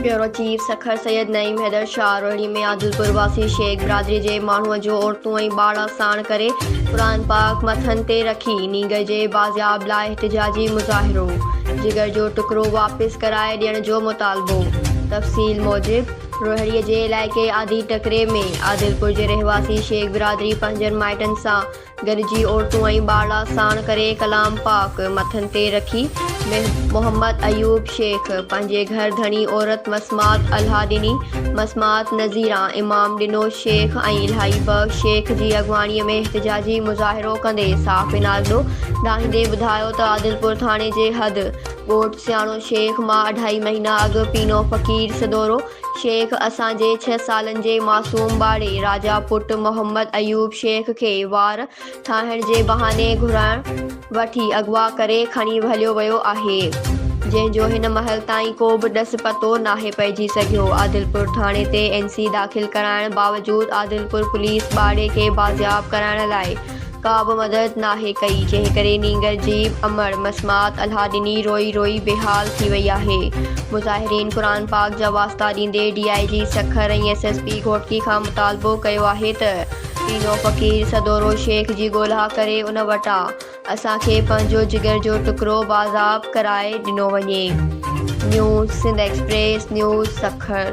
Bureau chief, Sukkur Syed Naeem Haider Shah Rohri ۾ Adilpur واسي شيخ برادري جي ماڻهوء جو عورتون ۽ ٻارڙا ساڻ ڪري قرآن پاڪ مٿن تي رکي نينگر جي بازياب لاء احتجاجي مظاهرو، جگر جو ٽڪرو واپس ڪرائي ڏيڻ جو مطالبو. تفصيل موجب، روهڙي جي علائقي آڌي ٽڪري ۾ عادلپور جي رهواسي شيخ برادري پنهنجن مائٽن سان گڏجي عورتون ۽ ٻارڙا ساڻ ڪري ڪلام پاڪ مٿن تي رکي محمد ايوب شيخ پنهنجي گهر ڌڻي عورت مسمات الهه ڏني مسمات نذيره امام ڏنو شيخ ۽ الهي بخش شيخ جي اڳواڻي ۾ احتجاجي مظاهرو ڪندي صاف انارڏو ڏاهيندي ٻڌايو ته عادلپور ٿاڻي جي حد ڳوٺ سياڻو شيخ مان اڍائي مهينا اڳ پينو فقير سدورو شيخ اسان جي ڇهه سالن جي معصوم ٻارڙي راجا پٽ محمد ايوب شيخ کي وار ٺاهڻ جي بهاني گهرائڻ وٺي اغوا ڪري کڻي هليو ويو آهي جنهن جو هن مهل تائين ڪو به ڏس پتو ناهي پئجي سگهيو عادلپور ٿاڻي تي اين سي داخل ڪرائڻ باوجود عادلپور پوليس ٻارڙي کي بازياب ڪرائڻ لاء ڪا به مدد ناهي ڪئي، جنهن ڪري نينگر جيب امڙ مسمات الها ڏني روئي روئي بيحال ٿي وئي آهي. مظاهرين قرآن پاڪ جا واسطا ڏيندي D I G Sukkur ۽ S S P Ghotki کان مطالبو ڪيو آهي ته پينو فقير سدورو شيخ جي ڳولها ڪري ان وٽان اسان کي پنهنجو جگر جو ٽڪرو بازاب ڪرائي ڏنو وڃي. News Sindh express news Sukkur.